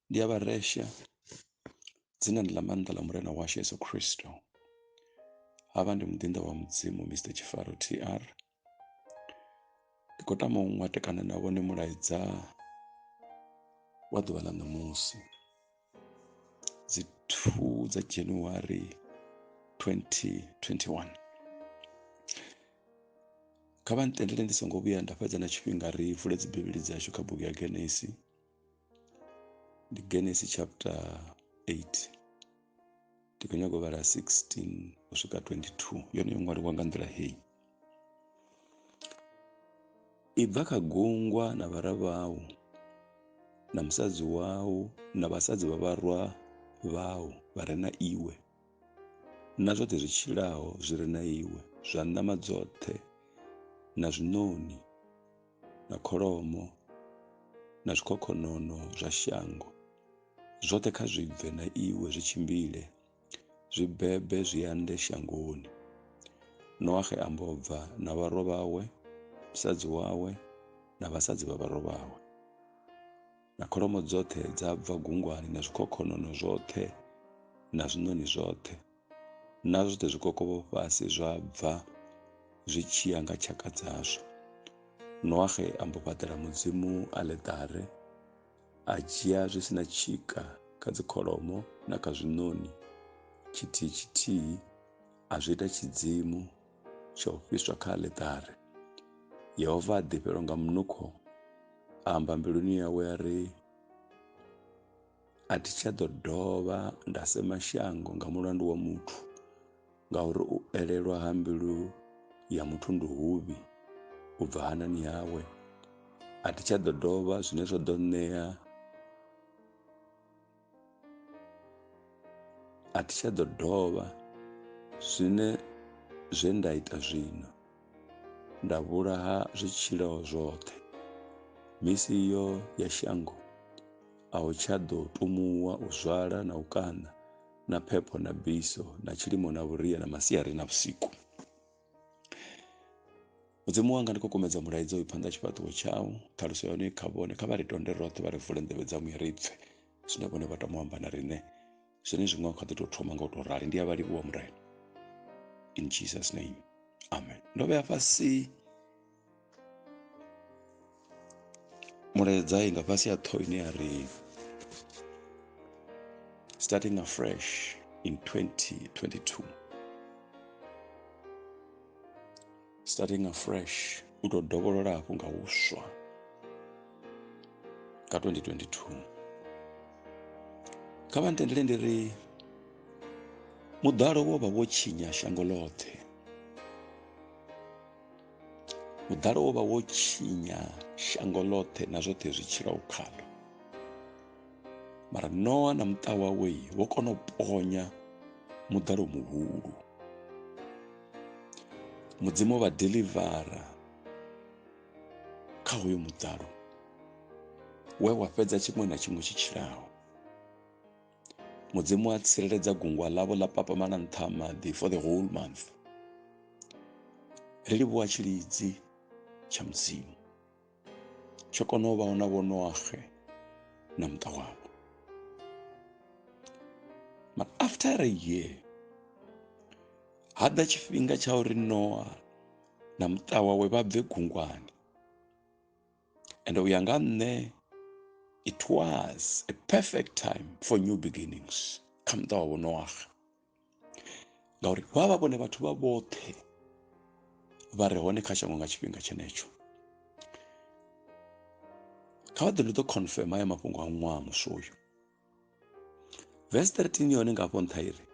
ndi a vha resha dzinani ḽa maanḓa ḽa murena washu yesu khristo havha ndi muḓinḓa wa mudzimu mr tshifaro tr ndi khou tama u ṅwatekana na vhone mulaedza wa ḓuvha ḽa ṋamusi dzi 2 dza january 2021 kha vha ntendele ndi songo vhuya nda fhedza na tshifhinga ri vule dzibivhili dzashu kha bugu ya genesi ndi genesi chapter 8 ndi khou nyanga u vhala 16 u swika 22 yone yo ṅwaliwa nga nḓila heyi i bva kha gungwa na vhara vhau na musadzi wau na vhasadzi vha vharwa vhau vha re na iwe na zwoṱhe zwi tshilaho zwi re na iwe zwa ṋama dzoṱhe na zwiṋoni na kholomo na zwikhokhonono zwa shango zwoṱhe kha zwi bve na iwe zwi tshimbile zwi bebe zwi ande shangoni noahe ambo bva na vharwa vhawe musadzi wawe na vhasadzi vha vharwa vhawe na kholomo dzoṱhe dza bva gungwani na zwikhokhonono zwoṱhe na zwiṋoni zwoṱhe na zwoṱhe zwikokovho fhasi zwa bva zwi tshi ya nga tshaka dzazwo noahe a mbo fhaṱela mudzimu aletare a dzhia zwi si na tshika kha dzikholomo na kha zwiṋoni tshithihi tshithihi a zwi ita tshidzimu tsha u fhiswa kha aḽeṱare yehova a ḓifhelwa nga munukho a amba mbiluni yawe a ri a thi tsha ḓo dovha nda sema shango nga mulandu wa muthu ngauri u elelwa ha mbilu ya muthu ndi huvhi u bva hanani hawe a thi tsha ḓo dovha zwine zwa ḓo ṋea A thi tsha ḓo dovha zwine zwe nda ita zwino nda vhulaha zwitshilo zwoṱhe misi iyo ya shango a hu tsha ḓo tumuwa u zwala na u kaṋa na phepho na biso na tshilimo na vhuria na masiari na vhusiku mudzimu wanga ndi khou kumedza mulaidzo uyu phanḓa tshifhaṱuwo tshau ṱhaluso ya hone kha vhone kha vha ri tonde roṱhe vha ri vule nḓevhe dza muya ri pfhe zwine vhone vha tama u amba na riṋe zwine zwiṅwe kha ḓi tou thoma nga u tou rali ndi a vha livhuwa murena in jesus name amen ndo vhea fhasi mulaedza i nga fhasi ya ṱho ine ya ri starting afresh in 2022 starting afresh u tou dovholola hafhu nga huswa nga 2022 kha vha ntendele ndi ri muḓalo wo vha wo tshinya shango ḽoṱhe Muḓalo wo vha wo tshinya shango ḽoṱhe na zwoṱhe zwi tshilaho khaḽo. Mara Noa na muṱa wawe vho kona u ponya muḓalo muhulu. Mudzimu vha delivara kha hoyo muḓalo we wa fhedza tshiṅwe na tshiṅwe tshi tshilaho. mudzimu a tsireledza gungwa ḽavho ḽa papamala nṱha ha maḓi for the whole month ri livhuwa tshilidzi tsha mudzimu tsho kona u vha hona vho noaxe na muṱa wavho but after a year ha ḓa tshifhinga tsha uri noa na muṱa wawe vha bve gungwani and u ya nga nṋe it was a perfect time for new beginnings kha muṱa wa vhonowaga ngauri vha vha vhone vhathu vha vhoṱhe vha re hone kha shango nga tshifhinga tshenetsho kha vha ḓo ndi ḓo confirm haya mafhungo a ṅwaha muswa uyu Vesi 13 yone nga hafho nṱha iri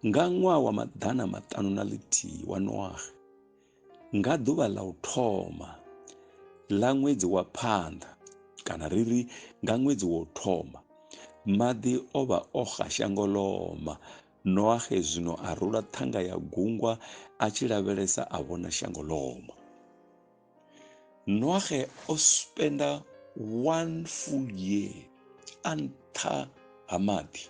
nga ṅwaha wa maḓana maṱanu na ḽithihi wa Noaxe nga ḓuvha ḽa u thoma ḽa ṅwedzi wa phanḓa kana ri ri nga ṅwedzi wa u thoma maḓi o vha o xa shango loma Noaxe zwino a rula ṱhanga ya gungwa a tshi lavhelesa a vhona shango loma noage o spenda one full year a nṱha ha maḓi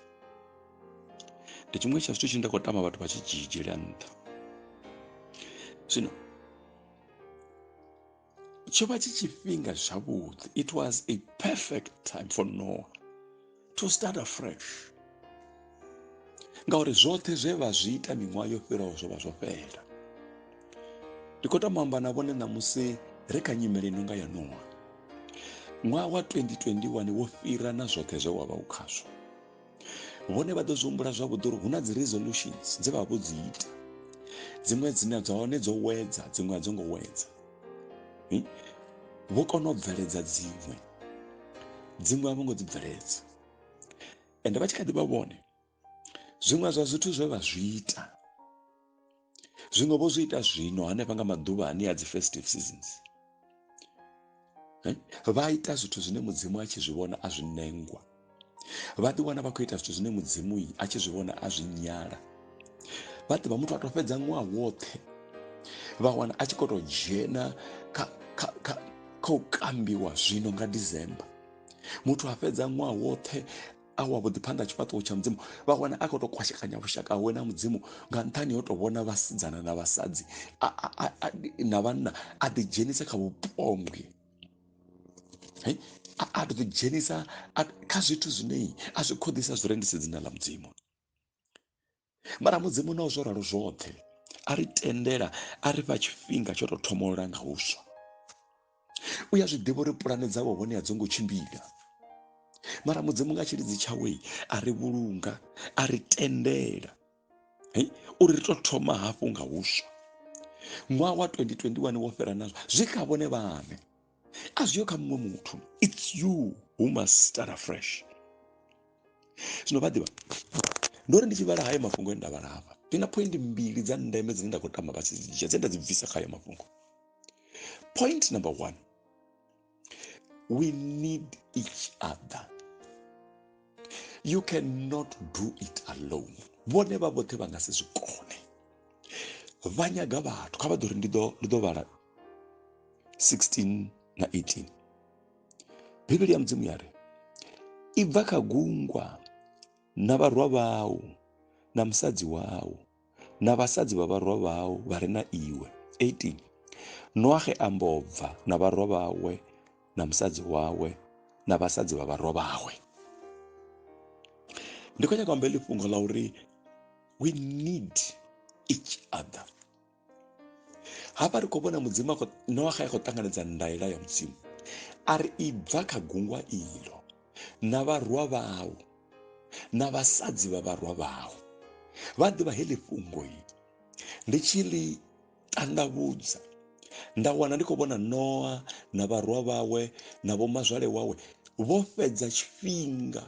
ndi tshiṅwe tsha zwithu tshine nda khou tama vhathu vha tshi dzhidzhela nṱha zwino tsho vha tshi tshifhinga zwavhuḓi it was a perfect time for noah to start afresh ngauri zwoṱhe zwe vha zwi ita miṅwaha yo fhiraho zwo vha zwo fhela ndi khou tama amba na vhone ṋamusi ri kha nyimele ino nga ya nowa ṅwaha wa 2021 wo fhira na zwoṱhe zwe wa vha u khazwo vhone vha ḓo zwi humbula zwavhuḓi uri hu na dzi resolutions dze vha vho dzi ita dziṅwe dzine dza hone dzo wedza dziṅwe a dzo ngo wedza hm? vho kona u bveledza dziṅwe dziṅwe a vho ngo dzi bveledza ende vha tshi kha ḓi vha vhone zwiṅwe zwa zwithu zwe vha zwi ita zwiṅwe vho zwi ita zwino hanefha nga maḓuvha ane a dzi festive seasons vha ita zwithu zwine mudzimu a tshi zwi vhona a zwi nengwa vha ḓi wana vha khou ita zwithu zwine mudzimu a tshi zwi vhona a zwi nyala vha ḓivha muthu a to fhedza ṅwaha woṱhe vha wana a tshi khou to dzhena kha kha kha kha u kambiwa zwino nga December muthu a fhedza ṅwaha woṱhe a wa vhuḓi phanḓa tshifhaṱuwo tsha mudzimu vha wana a khou to kwashekanya vhushaka hawe na mudzimu nga nṱhani ho to vhona vhasidzana na vhasadzi na vhanna a ḓi dzhenisa kha vhupombwe a ḓi dzhenisa kha zwithu zwine a zwi khoḓisa zwi rendise dzina ḽa mudzimu mara mudzimu na zwo ralo zwoṱhe a ri tendela a ri fha tshifhinga tsho tou thomolola nga huswa u ya zwi ḓivha uri pulane dzawe hone a dzo ngo tshimbila mara mudzimu nga tshilidzi tshawe a ri vhulunga a ri tendela hei uri ri to thoma hafhu nga huswa ṅwaha wa 2021 wo fhira nazwo zwi kha vhone vhane a zwi yo kha muṅwe muthu it's you who must start afresh zwino vha ḓivha ndo ri ndi tshi vhala hayo mafhungo e nda vhala hafha ndi na point mbili dza ndeme dzine nda khou tama vha tshi dzi dzhia dze nda dzi bvisa kha hayo mafhungo point number one We need each other. You cannot do it alone. Vhone vha vhoṱhe vha nga si zwi kone. Vha nyaga vhathu kha vha ḓo ri ndi ḓo ndi ḓo vhala 16 na 18. Bivhili ya Mudzimu ya ri ibva kha gungwa na vharwa vhau na musadzi wau na vhasadzi vha vharwa vhau vha re na iwe 18 noaxe a mbo bva na vharwa vhawe na musadzi wawe na vhasadzi vha vharwa vhawe ndi khou nyaka amba ḽi fhungo ḽa uri we need each other hafha ri khou vhona mudzimu noaxa a khou ṱanganedza ndaela ya mudzimu a ri i bva kha gungwa ilo na vharwa vhau na vhasadzi vha vharwa vhau vha ḓivha heḽi fhungo i ndi tshi ḽi tandavhudza nda wana ndi khou vhona noa na vharwa vhawe na vhomazwale wawe vho fhedza tshifhinga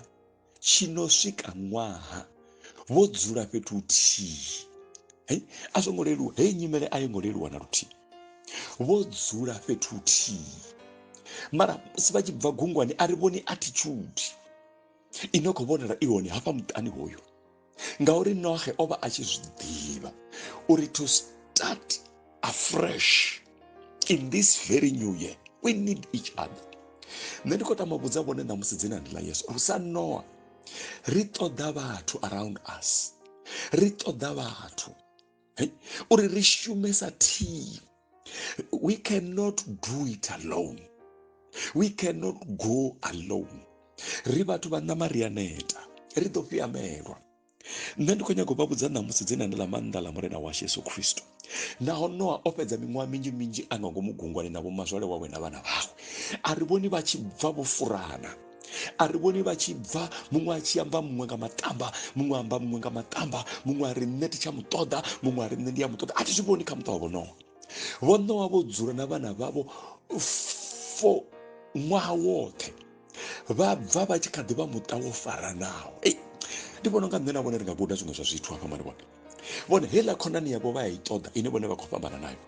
tshi no swika ṅwaha vho dzula fhethu huthihi hei a zwo ngo leluwa heyi nyimele a yo ngo leluwa na luthihi vho dzula fhethu huthihi mara musi vha tshi bva gungwani a ri vhoni attitude i no khou vhonala i hone hafha muṱani hoyo ngauri nohe o vha a tshi zwi ḓivha uri to start afresh in this very new year we need each other nṋe ndi khou tama vhudza vhone ṋamusi dzina ndi ḽa yesu uri sa noa ri ṱoḓa vhathu around us ri ṱoḓa vhathu uri ri shume sa thimu we cannot do it alone we cannot go alone ri vhathu vha ṋama ri a neta ri ḓo fhiamelwa nṋe ndi khou nyanga u vha vhudza ṋamusi dzine ndi ḽa maanḓa ḽa murena washu yesu khristo naho noa o fhedza miṅwaha minzhi minzhi a nga ngomu gungwani na vhomazwale wawe na vhana vhawe a ri vhoni vha tshi bva vho furana a ri vhoni vha tshi bva muṅwe a tshi amba muṅwe nga matamba muṅwe amba muṅwe nga matamba muṅwe a ri nṋe ndi tsha muṱoḓa muṅwe a ri nṋe ndi ya muṱoḓa a thi zwi vhoni kha muṱa wa vhonowa vhonowa vho dzula na vhana vhavho fo ṅwaha woṱhe vha bva vha tshi kha ḓi vha muṱa wo faranaho ei ndi vhona unga nṋe na vhone ri nga guda zwiṅwe zwa zwithu hafha mari vhone vhone heiḽa khonani yavho vha ya i ṱoḓa ine vhone vha khou fhambana nayo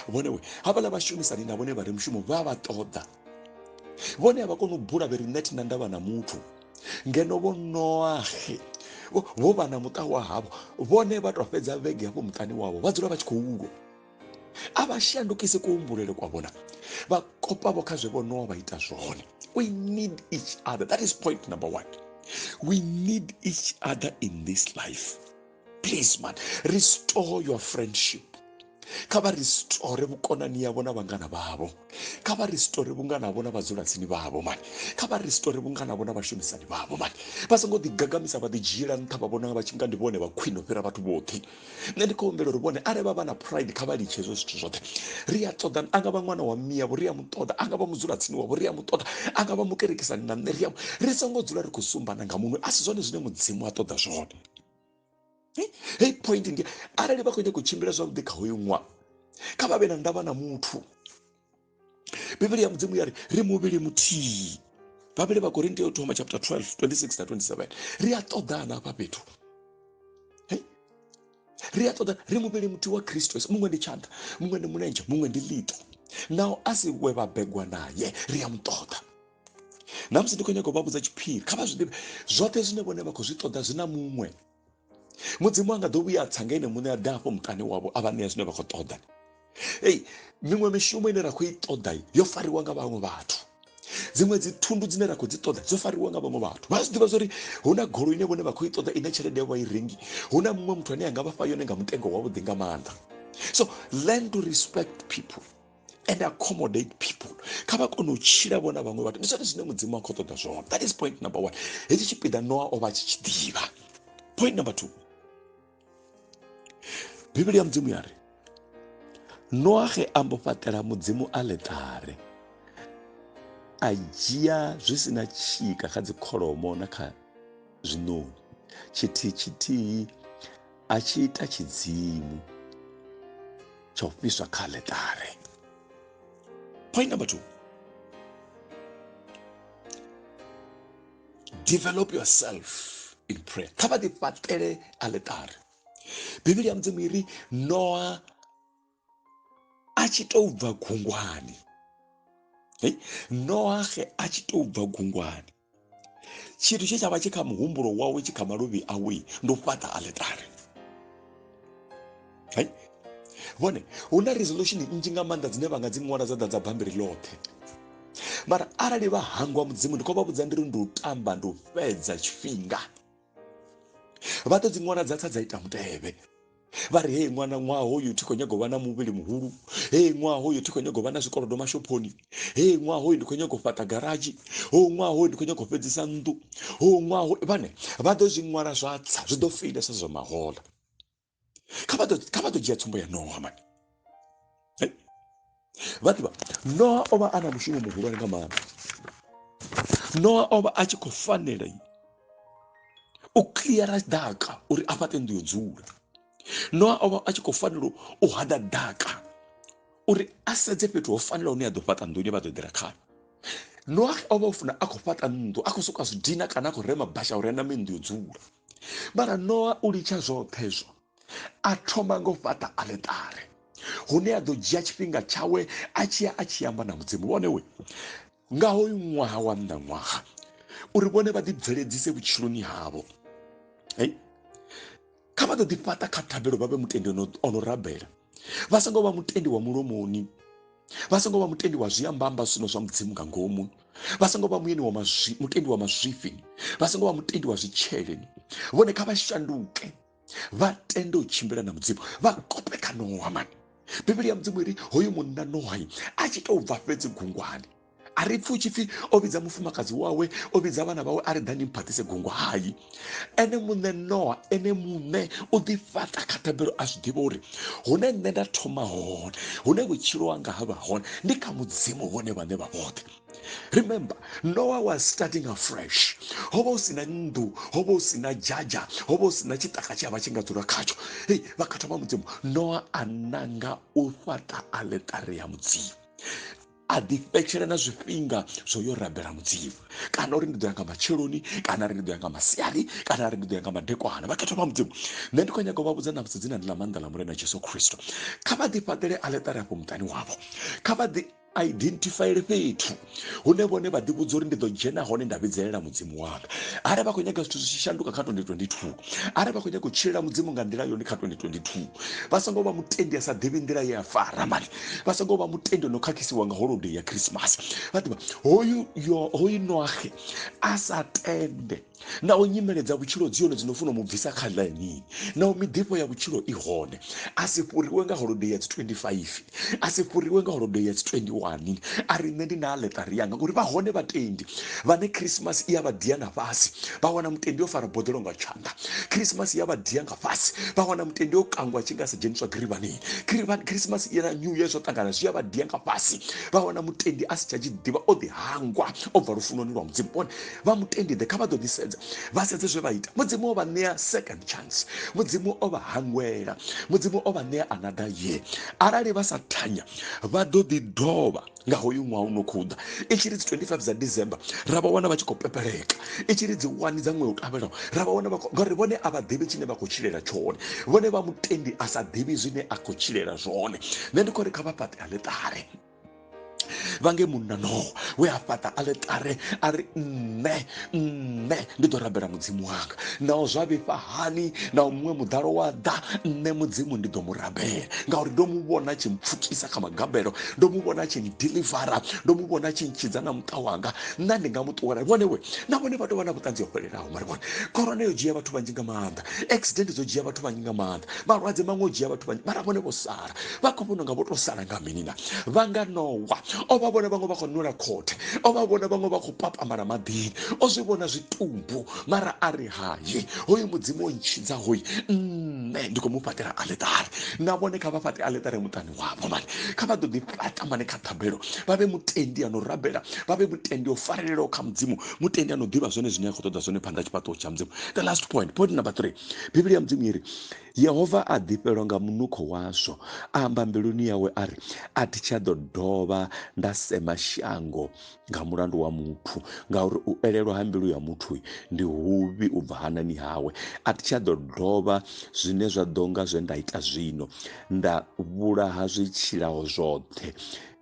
vhone we havhala vhashumisani na vhone vha re mushumo vha vha ṱoḓa vhone a vha koni u bula vhe ri nṋe thina ndavha na muthu ngeno vho noahe vho vha na muṱa wa havho vhone vha tou fhedza vhege hafho muṱani wavho vha dzula vha tshi khou lwa a vha shandukise kuhumbulele kwa vhona vha kopavho kha zwe vho noa vha ita zwone we need each other that is point number one we need each other in this life please man restore your friendship kha vha restore vhukonani yavho na vhangana vhavho kha vha restore vhungana havho na vhadzulatsini vhavho mani kha vha restore vhungana havho na vhashumisani vhavho mani vha songo ḓigagamisa vha ḓidzhiela nṱha vha vhona vha tshi nga ndi vhone vha khwine u fhira vhathu vhoṱhe nṋe ndi khou humbela uri vhone arali vha vha na pride kha vha litshe hezwo zwithu zwoṱhe ri a ṱoḓa a nga vha ṅwana wa mme yavho ri a mu ṱoḓa a nga vha mudzulatsini wavho ri a mu ṱoḓa a nga vha mukerekisani na nṋe ri a ri songo dzula ri khou sumbana nga muṅwe a si zwone zwine mudzimu a ṱoḓa zwone hei point ndi arali vha khou nyanga u tshimbila zwavhuḓi kha hoyu ṅwaha kha vha vhe na ndavha na muthu bivhili ya mudzimu ya ri ri muvhili muthihi vhavhili vha korinti yo thoma chapter 12 26 na 27 ri a ṱoḓana hafha fhethu ri a ṱoḓana ri muvhili muthihi wa kristo yesu muṅwe ndi tshanḓa muṅwe ndi mulenzhe muṅwe ndi ḽiṱo naho a si we vha begwa naye ri a mu ṱoḓa na musi ndi khou nyaga u vha vhudza tshiphiri kha vha zwi ḓivhe zwoṱhe zwine vhone vha khou zwi ṱoḓa zwi na muṅwe mudzimu a nga ḓo vhuya a tsa nga ene muṋe a ḓa afho muṱani wavho a vha ṋea zwine vha khou ṱoḓa ei miṅwe mishumo ine ra khou i ṱoḓa yo fariwa nga vhaṅwe vhathu dziṅwe dzi thundu dzine ra khou dzi ṱoḓa dzo fariwa nga vhaṅwe vhathu vha zwi ḓivha zwori hu na golo ine vhone vha khou i ṱoḓa ine tshelede yavho vha i rengi hu na muṅwe muthu ane a nga vha fha yone nga mutengo wavhuḓi nga maanḓa so learn to respect people and accommodate people kha vha kone u tshila vhona vhaṅwe vhathu ndi zwone zwine mudzimu wa khou ṱoḓa zwone that is point number one hetshi tshipiḓa noa o vha tshi tshi ḓivha point number two bivhili ya mudzimu ya ri noa ge a mbo fhaṱela mudzimu aletare a dzhia zwi si na tshika kha dzikholomo na kha zwiṋoni tshithihi tshithihi a tshi ita tshidzimu tsha u fhiswa kha aletare point number two develop yourself in prayer kha vha ḓifhaṱele aletare bivhili ya mudzimu iri noa a tshi tou bva gungwani hey, noahe a tshi tou bva gungwani tshithu tshe tsha vha tshi kha muhumbulo wawe tshi kha maluvhi awe ndi u fhaṱa aletare hey? vhone hu na resolution nnzhi nga maanḓa dzine vha nga dzi ṅwala dza ḓa dza bambiri ḽoṱhe mara arali vha hangwa mudzimu ndi khou vha vhudza ndi ri ndi u tamba ndi u fhedza tshifhinga vha ḓo dzi ṅwala dza tsa dza ita mutevhe vha ri hei ṅwana ṅwaha hoyu thi khou nyaga u vha na muvhili muhulu hei ṅwaha hoyu thi khou nyaga u vha na zwikolodo mashophoni hei ṅwaha hoyu ndi khou nyaga u fhaṱa garadzhi hou ṅwaha hoyu ndi khou nyaga u fhedzisa nnḓu hou ṅwaha hoyu vhane vha ḓo zwi ṅwala zwa tsa zwi ḓo feilesa zwa mahola kha vha ḓo dzhia tsumbo ya nowa mani vha ḓivha noa o vha a na mushumo muhulwane nga maanḓa noa o vha a tshi khou fanela u cleara ḓaka uri a fhaṱe nnḓu yo dzula noa o vha a tshi khou fanela u hada ḓaka uri a sedze fhethu ho fanela hune a ḓo fhaṱa nnḓu ine vha ḓo ḓela khayo noa o vha o funa a khou fhaṱa nnḓu a khou soka zwidina kana a khou rema basha uri a name nnḓu yo dzula mara noa u litsha zwoṱhe zwo a thoma nga u fhaṱa aletare hune a ḓo dzhia tshifhinga tshawe a tshiya a tshi amba na mudzimu vhone we nga hoyu ṅwaha wa nnḓa ṅwaha uri vhone vha ḓibveledzise vhutshiloni havho hey kha vha ḓo ḓi fhaṱa kha thabelo vha vhe mutendi o no rabela vha songo vha mutendi wa mulomoni vha songo vha mutendi wa zwiambamba zwino zwa mudzimu nga ngomu vha songo vha muyeni wa mazwi mutendi wa mazwifhi vha songo vha mutendi wa zwitsheleni vhone kha vha shanduke vha tende u tshimbila na mudzimu vha kope kha nowa mani bivhili ya mudzimu iri hoyu munna nohai a tshi tou bva fhedzi gungwani a ri pfi u tshi pfi o vhidza mufumakadzi wawe o vhidza vhana vhawe a ri ḓani mphaṱise gungu hayi ene muṋe noa ene muṋe u ḓi fhaṱa kha thabelo a zwi ḓivha uri hune nṋe nda thoma hone hune vhutshilo wanga ha vha hone ndi kha mudzimu vhone vhane vha vhoṱhe remember noah was starting afresh ho vha hu sina nnḓu ho vha hu sina dzhadzha ho vha hu sina tshiṱaka tshi a vha tshi nga dzula khatsho hei vha kha thoma mudzimu noah a nanga u fhaṱa aletare ya mudzimu a ḓifhetshela na zwifhinga zwo yo rabela mudzimu kana uri ndi ḓo ya nga matsheloni kana ri ndi ḓo ya nga masiari kana ri ndi ḓo ya nga madekwana vha khetho vha mudzimu nṋe ndi khou nyaga u vha vhudza namusi dzina ndi ḽa maanḓa ḽa murena jesu khristo kha vha ḓifhaṱele aletare afho muṱani wavho kha vha ḓi a identifaele fhethu hune vhone vha ḓivhudza uri ndi ḓo dzhena hone nda vhidzelela mudzimu wanga arali vha khou nyaga zwithu zwi tshi shanduka kha 2022 arali vha khou nyaga u tshilela mudzimu nga nḓila yone kha 2022 vha songo vha mutendi a sa ḓivhi nḓila ye a fara mali vha songo vha mutendi no khakhisiwa nga holodei ya khrisimasi vha ḓivha hoyu noahe a sa tende naho nyimele dza vhutshilo dzi hone dzi no funa mu bvisa kha ḽainini naho miḓifho ya vhutshilo i hone a si fhuriwe nga holodei ya dzi 25 a si fhuriwe nga holodei ya dzi 21 a ri nṋe ndi na aḽeṱari yanga ngori vha hone vhatendi vhane khrisimasi i ya vha dia na fhasi vha wana mutendi o fara boḓelo nga tshanḓa khrisimasi i ya vha dia nga fhasi vha wana mutendi o kangwa tshi nga sa dzheniswa girivhanini khrisimasi i na new year zwo ṱangana zwi ya vha dia nga fhasi vha wana mutendi a si tsha tshi ḓivha o ḓi hangwa o bva lufunoni lwa mudzimu vhone vha mutendi ḓe kha vha ḓo ḓi sedza vha sedze zwe vha ita mudzimu o vha ṋea second chance mudzimu o vha hangwela mudzimu o vha ṋea another year arali vha sa thanya vha ḓo ḓi dovha nga hoyu ṅwaha u no khou ḓa i tshi ri dzi 25 dza december ra vha wana vha tshi khou pepeleka i tshi ri dzi wani dza ṅwaha u tevhelaho ra vha wana vha khou ngauri vhone a vha ḓivhi tshine vha khou tshilela tshone vhone vha mutendi a sa ḓivhi zwine a khou tshilela zwone nṋe ndi khou ri kha vha fhaṱe aḽeṱare vhange munna noho we a fhaṱa aletare a ri nṋe nṋe ndi ḓo rabela mudzimu wanga naho zwa vhifha hani naho muṅwe muḓalo wa ḓa nṋe mudzimu ndi ḓo mu rabela ngauri ndo mu vhona tshi mpfukisa kha magabelo ndo mu vhona tshi ndilivara ndo mu vhona tshi ntshidza na muṱa wanga nṋa ndi nga mu ṱuwela vhone we na vhone vha tou vha na vhuṱanzi ho fhelelaho mari vhone khorona yo dzhia vhathu vhanzhi nga maanḓa accident dzo dzhia vhathu vhanzhi nga maanḓa malwadze maṅwe o dzhia vhathu vhanzhi mara vhone vho sala vha khou vhona nga vho to sala nga mini na vha nga nowa o vha vhona vhaṅwe vha khou nwela khothe o vha vhona vhaṅwe vha khou papamala maḓini o zwi vhona zwitumbu mara a ri hayi hoyu mudzimu o ntshidza hoyi nṋe ndi khou mu fhaṱela aletare na vhone kha vha fhaṱe aletare muṱani wavho mani kha vha ḓo ḓi fhaṱa mani kha ṱhabelo vha vhe mutendi ano rabela vha vhe mutendi o farelelaho kha mudzimu mutendi ano ḓivha zwone zwine a khou ṱoḓa zwone phanḓa tshifhaṱuwo tsha mudzimu the last point point number three bivhili ya mudzimu iri Yehova a ḓifhelwa nga munukho wazwo, a amba mbiluni yawe a ri, A thi tsha ḓo dovha nda sema shango nga mulandu wa muthu, ngauri u elelwa ha mbilu ya muthu ndi huvhi u bva hanani hawe. A thi tsha ḓo dovha zwine zwa ḓo nga zwe nda ita zwino, nda vhulaha zwi tshilaho zwoṱhe.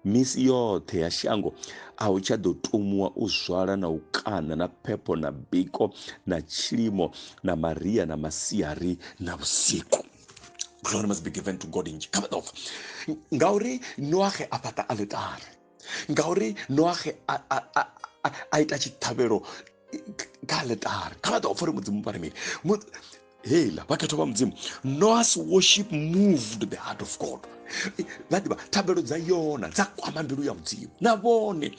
Misi yoṱhe ya shango a hu tsha ḓo tumuwa u zwala na u kaṋa na phepho na biko na tshilimo na maria na masiari na vhusiku glory must be given to god in kabadova ngauri noaxe a fhaṱa aletare ngauri noaxe a ita tshiṱhavhelo ka letare ka batla go fa re modimo paramedi hela bakhetho ba modimo noas worship moved the heart of god vha ḓivha thabelo dza yona dza kwama mbilu ya mudzimu na vhone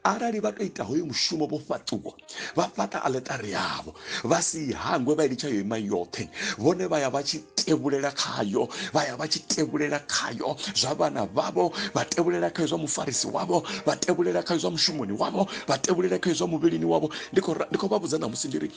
arali vha to ita hoyo mushumo vho fhaṱuwa vha fhaṱa aletari yavho vha si hangwe vha ilitsha yo ima yoṱhe vhone vha ya vha tshi tevhulela khayo vha ya vha tshi tevhulela khayo zwa vhana vhavho vha tevhulela khayo zwa mufarisi wavho vha tevhulela khayo zwa mushumoni wavho vha tevhulele kha izwa muvhilini wavho ndi khou vha vhudza ṋamusi ndi ri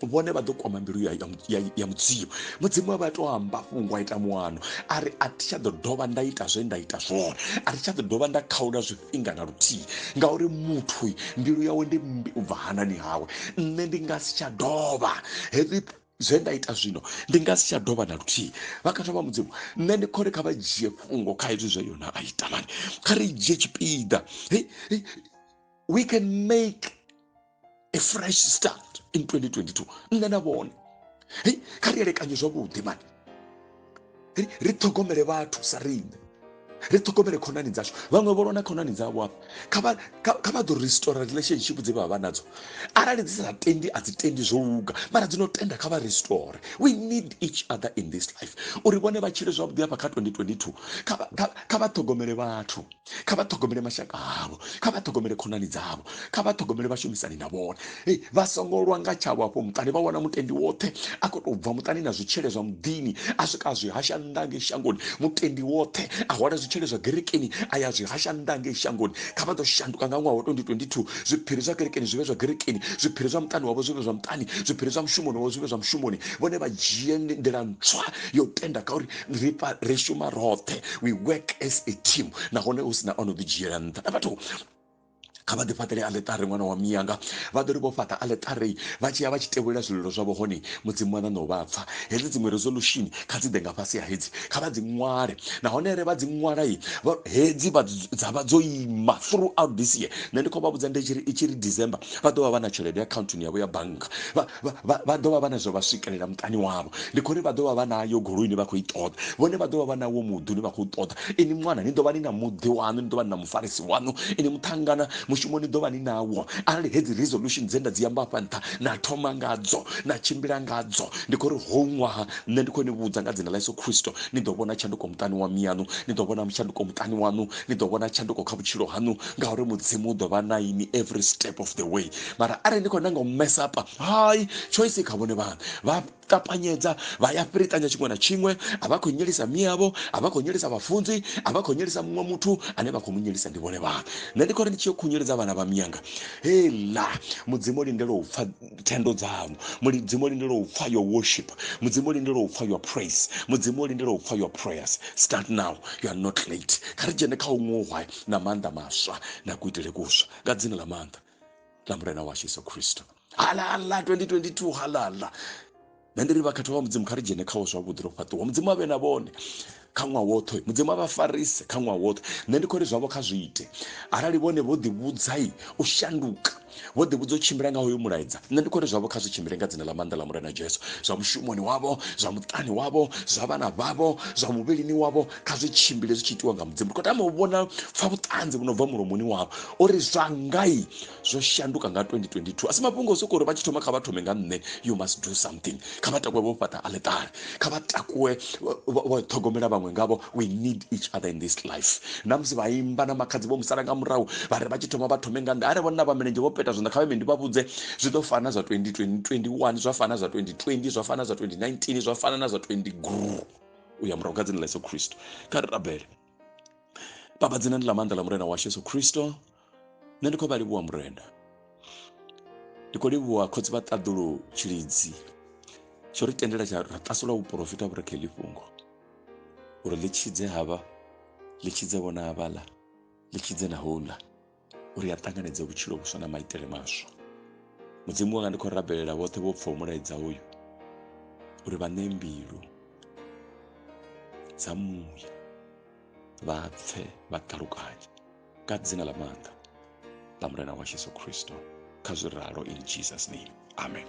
vhone vha ḓo kwama mbilu ya, ya, ya mudzimu mudzimu avha to amba fhungo a ita muano a ri a thi tsha ḓo dovha nda ita zwe nda ita zwone a thi tsha ḓo dovha nda khaula zwifhinga na luthihi ngauri muthu mbilu yawe ndi mbi u bva hanani hawe nṋe ndi nga si tsha dovha heavy zwe nda ita zwino ndi nga si tsha dovha na luthihi vhakhathwa vha mudzimu nṋe ndi khori kha vha dzhie fhungo kha hezwi zwe yona a ita mani kha ri dzhie tshipiḓa we can make a fresh start in 2022 nṋe na vhone kha ri elekanye zwavhuḓi mani ri ri ṱhogomele vhathu sa riṋe ri ṱhogomele khonani dzashu vhaṅwe vho lona khonani dzavho hafha kha vha kha vha ḓo restore relationship dze vha vha nadzo arali dzi sa tendi a dzi tendi zwo luga mara dzi no tenda kha vha restore we need each other in this life uri vhone vha tshile zwavhuḓi hafha kha 2022 kha vha ṱhogomele vhathu kha vha ṱhogomele mashaka avho kha vha ṱhogomele khonani dzavho kha vha ṱhogomele vhashumisani na vhone hey, vha songo lwa nga tshavho afho muṱani vha wana mutendi woṱhe a khou tou bva muṱani na zwitshele zwa muḓini a swika a zwi hasha nnḓa ngei shangoni mutendi woṱhe a hwala zwitshele zwa gerekeni a ya zwi hasha nnḓa ngei shangoni kha vha ḓo shanduka nga ṅwaha wa 2022 zwiphiri zwa kerekeni zwi vhe zwa gerekeni zwiphiri zwa muṱani wavho zwi vhe zwa muṱani zwiphiri zwa mushumoni wavho zwi vhe zwa mushumoni vhone vha dzhie nḓila ntswa yo tenda kha uri ri pa ri shuma roṱhe we work as a team nahone hu sina ono ḓi dzhiela nṱha na vhathu kha vha ḓi fhaṱele aletare ṅwana wa miyanga vha ḓo ri vho fhaṱa aletare vha tshi ya vha tshi tevhulela zwililo zwavho hone mudzimu wa ṋaṋo vha pfa hedzi dziṅwe resolution kha dzi ḓe nga fhasi ha hedzi kha vha dzi ṅwale nahone re vha dzi ṅwala i hedzi dza vha dzo ima throughout this year nṋe ndi khou vha vhudza ndi tshiri i tshiri december vha ḓo vha vha na tshelede akhaunthuni yavho ya bannga Vha, vha, vha ḓo vha vha na zwa vha swikelela muṱani wavho. Ndi khou ri vha ḓo vha vha na yo goloi ine vha khou i ṱoḓa. Vhone vha ḓo vha vha na wo muḓi une vha khou ṱoḓa. Inwi ṅwana, ni ḓo vha ni na muḓi waṋu, ni ḓo vha ni na mufarisi waṋu. Inwi muṱhangana, mushumo ni ḓo vha ni nawo. Arali hedzi resolution dze nda dzi amba afha nṱha, na thoma ngadzo, na tshimbila ngadzo, ndi khou ri howu ṅwaha, nṋe ndi khou ni vhudza nga dzina ḽa Yesu Kristo, ni ḓo vhona tshanduko muṱani wa miyaṋu, ni ḓo vhona tshanduko muṱani waṋu, ni ḓo vhona tshanduko kha vhutshilo haṋu, ngauri Mudzimu u ḓo vha na inwi every step of the way. mara arali ni khou nanga u mesapa hai choice kha vhone vhana vha ṱapanyedza vha ya fhirikanya tshiṅwe na tshiṅwe a vha khou nyelisa miyavho a vha khou nyelisa vhafunzi a vha khou nyelisa muṅwe muthu ane vha khou mu nyelisa ndi vhone vhana nṋe ndi khou ri ndi tshi yo khunyeledza vhana vha miyanga hela mudzimu lindela u pfa thendo dzanu mudzimu lindela u pfa your worship mudzimu lindela u pfa your praise mudzimu lindela u pfa your prayers start now you are not late kha ri dzhene kha u ṅohwa na maanḓa maswa na kuitele kuswa nga dzina ḽa maanḓa ḽa mulena washu yesu khristo halala 2022 halala nṋe ndi ri vhakhetho vha mudzimu kha ri dzhene khawo zwavhuḓi ro fhaṱiwa mudzimu avhe na vhone kha ṅwaha woṱhe mudzimu a vha farise kha ṅwaha woṱhe nṋe ndi khou ri zwavho kha zwi ite arali vhone vho ḓivhudzai u shanduka vho ḓivhudza u tshimbila nga hoyo mulaedza nṋe ndi khou ri zwavho kha zwi tshimbile nga dzina ḽa maanḓa ḽa mulena jesu zwa mushumoni wavho zwa muṱani wavho zwa vhana vhavho zwa muvhilini wavho kha zwi tshimbile zwi tshi itiwa nga mudzimu ndi khou tama u vhona pfa vhuṱanzi vhu no bva mulomoni wavho uri zwa ngai zwo shanduka nga 2022 a si mafhungo o sokou uri vha tshi thoma kha vha thome nga nṋe you must do something kha vha takuwe vho fhaṱa aletare kha vha takuwe vho ṱhogomela vhaṅwe ngavho we need each other in this life na musi vha imba na makhadzi vho musala nga murahu vha ri vha tshi thoma vha thome nga nṋe are vhona vha milenzhe vho peta zwanḓa kha vhe ndi vha vhudze zwi ḓo fana zwa 2021 zwa fana zwa 2020 zwa fana zwa 2019 zwa fana na zwa 20 gru u ya murahu kha dzina ḽa yesu khristo kha ri rabele baba dzina ndi ḽa maanḓa ḽa murena washu yesu khristo nṋe ndi khou vha livhuwa murena ndi khou livhuwa khotsi vha ṱaḓulu tshilidzi tsho ri tendela tsha ra ṱasula vhuporofita vhu re kha fhungo uri ḽi tshidze havha ḽi tshidze vhona havhaḽa ḽi tshidze na houḽa uri a ṱanganedze vhutshilo vhuswa na maitele maswa mudzimu wanga ndi khou rabelela vhoṱhe vho pfhaho mulaedza uyu uri vha ṋee mbilu dza muya vha pfe vha ṱalukanye ka dzina ḽa maanḓa ḽa mulena wa yesu kristo kha zwi ralo in jesus name amen